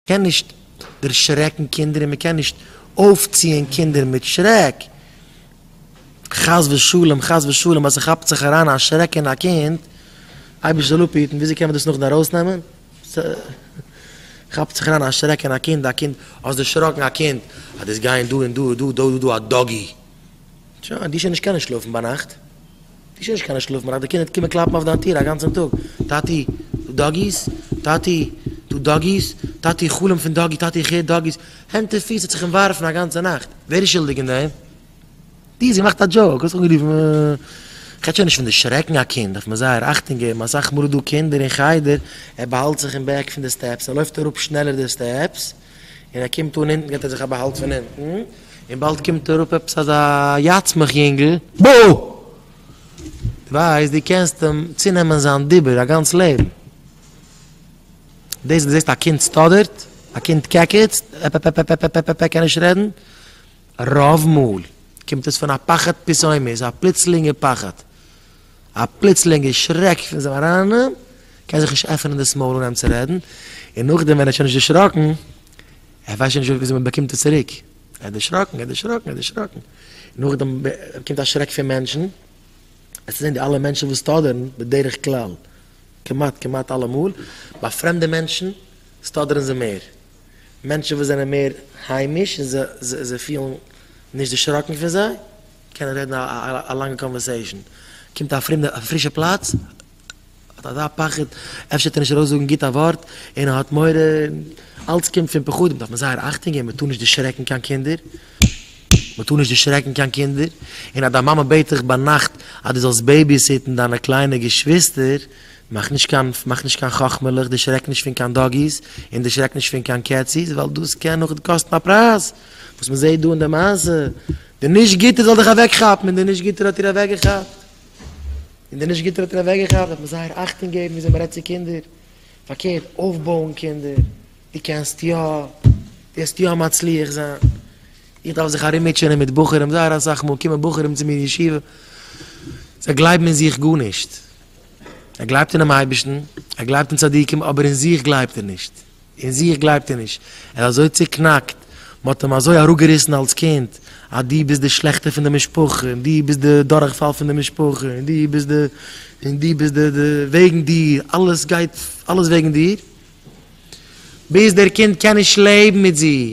קען נישט דערשרעקן קינדער און מען קען נישט אויפציען קינדער מיט שרעק, חס ושלום חס ושלום אז ס'כאפט זיך אריין א שרעק אין א קינד, אייבערשטער זאל אפהיטן, וויאזוי קען מען דאס נאכדעם ארויסנעמען? ס'כאפט זיך אריין א שרעק אין א קינד, א קינד, האסט דערשראקן א קינד, אז דאס גייען דא און דא און דא, דא דא דא א דאגי, שוין, די שוין נישט קענען שלאפן ביינאכט. די שוין נישט קיין שלאף מאכט די קינד קומען קלאפן אויף דיין טיר א גאנצען טאג טאטי דו דאגיס טאטי דו דאגיס טאטי איך חלום פון דאגי טאטי איך הער דאגיס הענט און פיס האט זיך אומווארפן א גאנצע נאכט ווער איז שולדיג אין דעם די האסט געמאכט א דזשאוק האסט זיך אנגערופן איך רעד שוין נישט פון די שרעקן א קינד דארף מען זייער אכטונג געבן אסאך מאל איז דא קינדער אין חדר ער באהאלט זיך אין בעק פון די סטעפס ער לויפט אראפ שנעלער די סטעפס און ער קומט אן אונטן געט ער זיך א באהאלט פון אונטן, און באלד קומט אראפ עפעס אזא יאצמעך יונגל. בא! דו ווייסט דו קענסט אים צונעמען זיין דיבור א גאנץ לעבן. דאס וואס דו זעסט א קינד סטאדערט, א קינד קעקעצט, עפעפעפ קימט עס פון א פחד פיסאומיז א פלוצלינגע פחד. א פלוצלינגע שרעק פון זיין אריין קען זיך נישט עפענען דאס מויל אן אים צו רעדן, און נאכדעם ווען ער האט שוין נישט דערשראקן, ער ווייסט שוין נישט וויאזוי מען באקומט עס צוריק, ער האט דערשראקן, ער האט דערשראקן, ער האט דערשראקן, און נאכדעם באקומט א שרעק פון מענטשן, עס צו זען די אלע מענטשן וואס טאדערן, בדרך כלל, כמעט, כמעט אלעמאל, ביי פרעמדע מענטשן טאדערן זיי מער, מענטשן וואס זענען מער היימיש און זיי פילן נישט דערשראקן פון זיי. קען ער רעדן א לאנגע קאנווערסעישן, קומט א פרומער אויף א פרישע פלאץ האט אזא פחד אפשר וועט ער נישט ארויסזאגן גוט א ווארט און ער האט מורא, אלץ קומט פון פחדים דארף מען זייער אכטונג געבן, מען טאר נישט דערשרעקן קיין קינדער, מען טאר נישט דערשרעקן קיין קינדער, און אז דיין מאמע בעט דיך ביינאכט אז דו זאלסט בעיביסיטן דיינע קליינע געשוויסטער, מאך נישט קיין מאך נישט קיין חכמה'לעך, דערשרעק נישט פון קיין דאגי'ס און דערשרעק נישט פון קיין קעצי'ס ווייל דאס קען נאכדעם קאסטן א פרייז. וואס מען זעט דא אין די מעשה, די נישט גוטע זאל דיך אוועק כאפן, און די נישט גוטער האט איר אוועק געכאפט, און די נישט גוטער האט איר אוועק געכאפט, דארף מען זייער אכטונג געבן וויאזוי מען רעדט צו קינדער, פארקערט אויפבויען קינדער, דו קענסט יא, דו וועסט יא מצליח זיין, איך דארף זיך ארום מוטשענען מיט בחורים, זייער אסאך מאל קומען בחורים צו מיר אין ישיבה, זיי גלייבן אין זיך גארנישט, ער גלייבט אינעם אייבערשטן, ער גלייבט אין צדיקים, אבער אין זיך גלייבט ער נישט. אין זיך גלייבט ער נישט, ער איז אזוי צוקנאקט, מען האט אים אזוי אראפגעריסן אלס קינד, אז דו ביסט די שלעכטע פון די משפחה, און דו ביסט די דורכפאל פון די משפחה, און דו ביסט די, און דו ביסט די, די, וועגן דיר, אלעס גייט, אלעס וועגן דיר, ביז דער קינד קען נישט לעבן מיט זיך.